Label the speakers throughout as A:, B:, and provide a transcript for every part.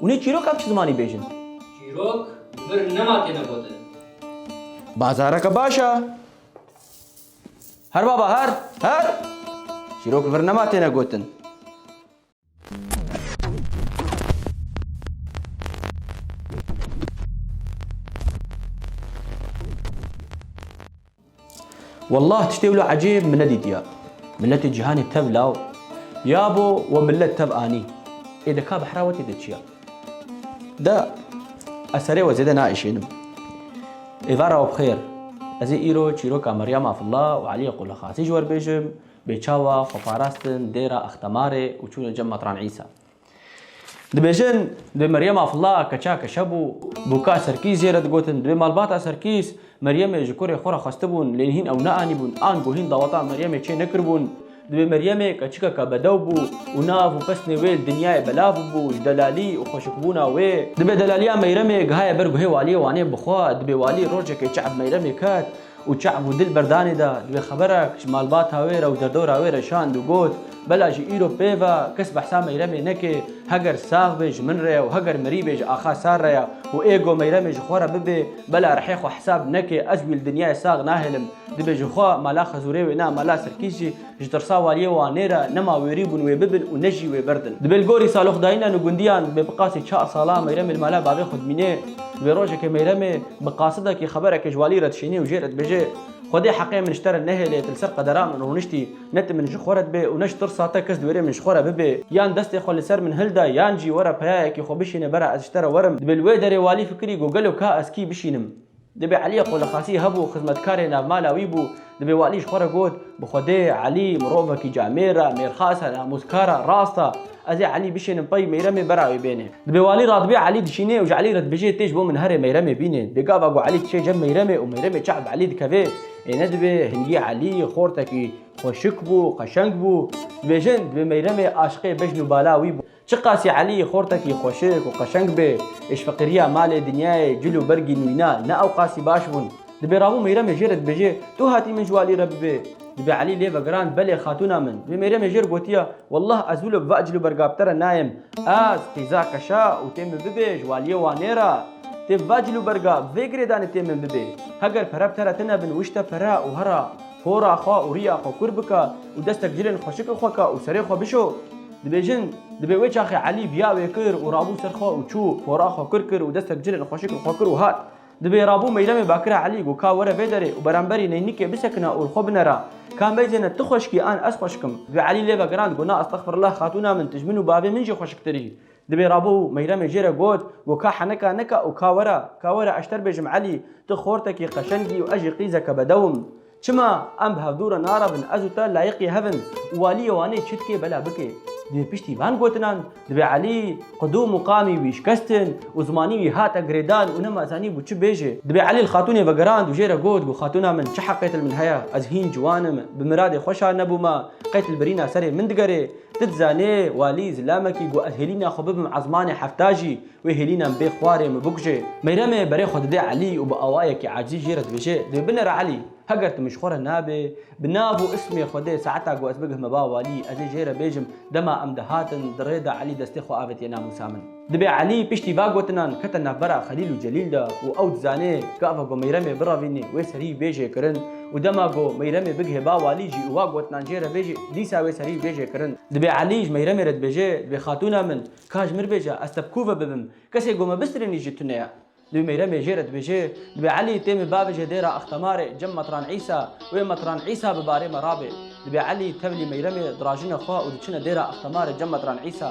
A: Hûn ê çîrok ev çi zimanî bêjin? Çîrok vir nema têne gotin. Bazareke baş e. Her baba her, her! Çîrok vir nema têne gotin. Wallah tiştê wilo ecêb min nedîtiya. Miletê cîhanê tev law ya bo we milet tev anî. Ê de ka behra we tê de çiya? De ez serê we zêde naişênim. Êvara we bixêr. Ez ê îro çîroka Meryem Afilla û Elî Qulixasî ji we re bêjim, bê çawa xwe parastin dêra Axtemarê û çûne cem Matran Îsa. Dibêjin divê Meryem Afla keça keşe bû. Bûka Serkîs jê re digotin. Divê malbata Serkîs Meryemê ji kurê xwe re xwestibûn lê hîn ew neanîbûn an ku hîn daweta Meryemê çê nekiribûn. Divê Meryemê keçikeke bedew bû û nav û pesnê wê li dinyayê belav bûbû ji delalî û xweşikbûna wê. Divê delaliya Meyremê gihaye ber guhê waliyê Wanê bixwe. Divê walî rojekê çe'b Meyremê ket. Û çav û dil berdanê da divê xeberek ji malbata wê re û derdora wê re şand û got, Bela ji îro pê ve kes behsa Meyremê neke, heger sax bê ji min re ye û heger mirî bê ji axa Sar re ye û ê go Meyremê ji xwe re bibê, bela rihê xwe hesab neke, ez wî li dinyayê sax nahêlim. Divê jixwe mala Xezûrê wêne mala Sirkîs jî. Ji tirsa waliyê Wanê re nema wêrî bûn wê bibin û ne jî wê birdin. Dibe li gorî saloxdayîna nû gundiyan dibe bi qasî çar salan Meyremê li mala bavê xwe dimîne. Dibe rojekê Meyremê bi qasidekî xebereke ji walî re dişîne û jê re dibêje, Xwe dê heqê min ji te re nehêle, tu li ser qedera min rûniştî, ne tu min ji xwe re dibê û ne ji tirsa te kes di wêrê min ji xwe re bibê. Yan destê xwe li ser min hilda yan jî were peyayekî xwe bişîne bera ez ji te re werim. Dibe li wê derê walî fikirî got gelo ka ez kî bişînim. Dibê Elî Qulixasî hebû xizmetkarê navmala wî bû. Dibê walî ji xwe re got, Bi Xwedê, Elî, mirovekî camêr e, mêrxas e, namûzkar e, rast e. Ez ê Elî bişênim pey, Meyremê bera wî bêne. Dibê walî radibê Elî dişînê û ji Elî re dibêje, Tê ji bo min here, Meyremê bîne. Dê gava ku Elî diçe cem Meyremê û Meyremê çax bi Elî dikeve. Ê nedibê, hingî Elî xortekî xweşik bû, qeşeng bû. Dibêjin, dibê Meyremê aşiqê bejn û bala wî bû. Çiqasî Elî Xortekî xweşik û qeşeng bê, êş feqîriya malê, dinyayê, cil û bergî nûyna ne ewqasî baş bûn. Dibê Rabû Mêyremê jê re dibêje, Tu hatî min ji walî re bibê. Dibê Elî lê vegirand, Belê xatûna min. Dibê Mêyremê jê re gotiya, Wallah ez wilo bi va cil û berga bi te re nayêm. Ez, qîza keşa û tê min bibê ji waliyê Wanê re. Tê bi va cil û berga, bi vê girêdanê tê min bibê. Heger pere bi te re tine bin wişte pere û herra, hora xwe û riya xwe kûr bike û destek cilên xweşikê xwe ke û serê xwe bişo. Dibêjin, Dibê wê çaxê Elî biya wê kir û rabû ser xwe û çû, pora xwe kur kir û destek cilên xweşik li xwe kir û hat. Dibê rabû meyremê bakira Elî got ka were vê derê û beramberî neynikê bisekina û li xwe binera, Ka meyzene tu xweşik î an ez xweşik im. Dibê Elî lê vegirand got na estexfirullah xatûna min tu ji min û bavê min jî xweşiktir î. Dibê rabû meyremê jê re got got ka heneka neka û ka were, ka were ez ji te re bêjim Elî tu xortekî qeşeng î û ez jî qîzeke bedew im. Çima em bi hevdû re narabin ez û te layiqî hev in û walîyê Wanê çi dike bela bike. Divê piştî van gotinan divê Elî qidû muqamî wî şikestin û zimanî wî hate girêdan û nema zanî bû çi bêje. Divê Elî li xatûnê vegerand û jê re got ku xatûna min çi heqê til min heye, ez hîn ciwan im, bi miradê xwe şa nebûme, qey til birîna serê min digerê. Ti dizanê, walî zilamekî ku ez hêlîna xwe bibim ezmanê hefta jî, Wê hêlînan bê xwarê min bikuje. Meyremê berê xwe dide Elî û bi awayekî acîl jê re dibêje, Dê binêre Elî. Heger tu min ji xwe re nabê, bi nav û ismê xwe dê saeta ku ez bigihme ba walî, ez ê jê re bêjim. Dema em dihatin, di rê de Elî destê xwe avêtiye namûsa min. Dibê Elî piştî va gotinan kete navbera Xelîl û Celîl de û ew dizanê gava ku Meyremê birevînê wê serî bê jê kirin û dema ku Meyremê bigihê ba walî jî û va gotinan jê re bêjî, dîsa wê serî bê jê kirin. Dibê Elî ji Meyremê re dibêje, Dibê xatûna min, Ka ji mir bêje ez te bi ku ve bibim? Kesê ku me bistirînî jî tune ye. Dibê Mêyremê jê re dibêje, dibê Elî tê min bavêje dêra Axtemarê cem Metran Îsa, wê Metran Îsa bi barê me rabê. Dibê Elî tevlî Mêyremê dirajine xwe û diçine dêra Axtemarê cem Metran Îsa.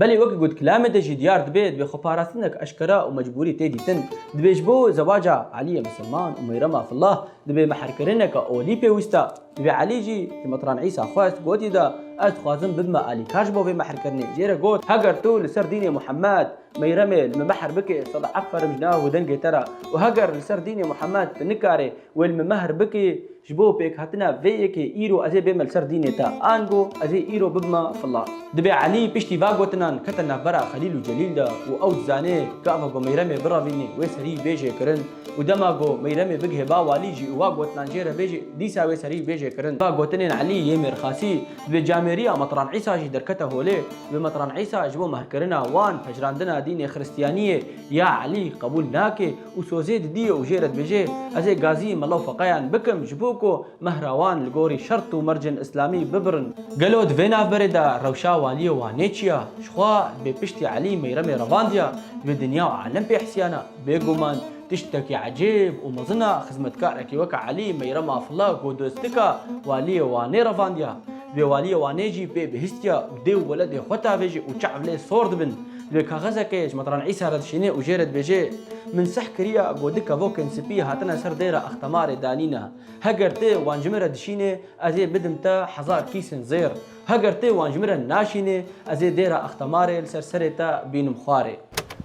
A: Belê weke ku di kilamê de jî diyar dibe, divê xweparastinek eşkera û mecbûrî tê dîtin. Divê ji bo zewaca Elîyê Misilman û Mêyrem Afillah divê mehrkirineke olî pêwîst a. Divê Elî jî ji Mitran Îsa xwest, gotî de, Ez dixwazim bibime alîkar ji bo vê mehrkirinê. Jê re got, Heger tu li ser dînê Muhemed, Mêyremê li min mehr bikê, sed eferim ji nav û dengê te re. Û heger li ser dînê Muhemed tu nikarê, Wê li min mehr bikî ji bo pêkhatina vê yekê îro ez ê bême li ser dînê te, ango ez ê îro bibime fila. Dibê Elî piştî va gotinan kete navbera Xelîl û Celîl de û ew dizanê gava ku Meyremê biravînê wê serî bê jêkirin û dema ku Meyremê bigihê ba walî jî û va gotinan jê re bêje dîsa wê serî bê jêkirin. Va gotinên Elî yê mêrxasî di bê camêriya Metran Îsa jî derkete holê. Di bê Metran Îsa ji bo mehrkirina wan, pejirandina dînê Xiristiyaniyê ya Elî qebûl nake. Û sozê didiye û jê re dibêje, Ez ê gazî mela û feqeyan bikim ji bo ku mehrawan li gorî şert û mercên îslamî bibirin. Gelo di vê navberê de rewşa waliyê Wanê çi ya? Jixwe dibê piştî Elî Mêyremê revandiya divê dinya û alem pê hesiyana. Bêguman tiştekî ecêb û mezin a xizmetkarekî weke Elî Mêyrem Afilla ku dostika waliyê Wanê revandiya. Divê waliyê Wanê jî pê bihîstiya û dê û weledê xwe tavêje û çav lê sor dibin. Lê kaxezekê ji Matran Îsa re dişînê û jê re dibêje, Min sih kiriya ku du kevokên spî hatine ser dêra Axtamarê danîne. Heger tê wan ji min re dişînê, ez ê bidim te hezar kîsên zêr. Heger tê wan ji min re naşînê, ez ê dêra Axtamarê li ser serê te bînim xwarê.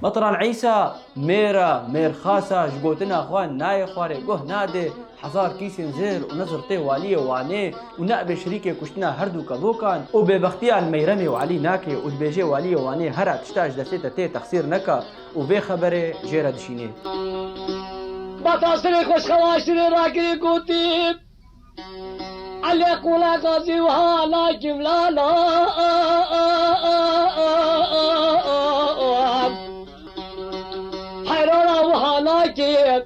A: Matran Îsa mêra mêrxasa ji gotina xwe nayê xwarê guh nade. Hezar kîsên zêr û nizr tê Waliyê Wanê û neabê şirîkê kuştina herdû kevokan û bêbextiyan Meyremê û Elî nake û dibêje Waliyê Wanê here tişta ji destê te tê texsîr neka û vê xeberê jê re dişînê. Bata serê xweşxelaşirê rakirî gotî, Elê qûla Gazî wiha la cimla la heyrara wiha nake.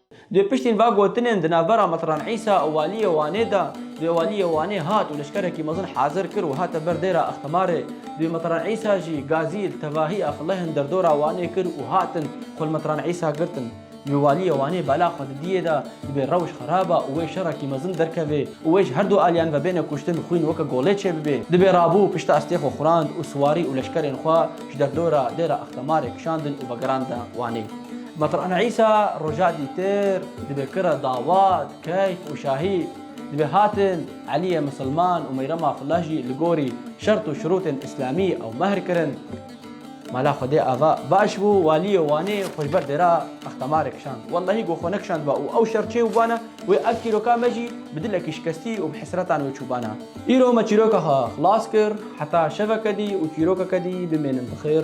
A: Dê piştîn va gotinên di navbera Mitran Îsa û Waliyê Wanê de, dê Waliyê Wanê hat û leşkerekî mezin hazir kir û hate ber dêra Extimarê. Dê Mitran Îsa jî gazî li tevahî Exlehên derdora Wanê kir û hatin xwe li Mitran Îsa girtin. Divê Waliyê Wanê bala xwe didiyê de, dibê rewş xeraba û wê şerekî mezin derkevê û wê ji her du aliyan ve bêne kuştin, xwîn weke golê çêbibê. Dibê rabû pişta estê xwe xurand û siwarî û leşkerên xwe ji derdora dêra Extimarê kişandin û vegerandin Wanê. Meteran Îsa roja dîtir dibe kira Dawad, Keyf û Şahî dibe hatin, Elîye Misilman û Meyrema Flah jî li gorî şert û şirûtên îslamî ew mehr kirin. Mala Xwedê Ava baş bû, Walîyê Wanê xwe ji ber dêra Axtamarê kişand. Wellahî ku xwe nekişandba û ew şer çêbûbana wê ev çîroka me jî bi dilekî şikestî û bi hesretan wê çûbana. Îro me çîroka xwe xilas kir, heta şeveke dî û çîrokeke dî bimênin bi xêr.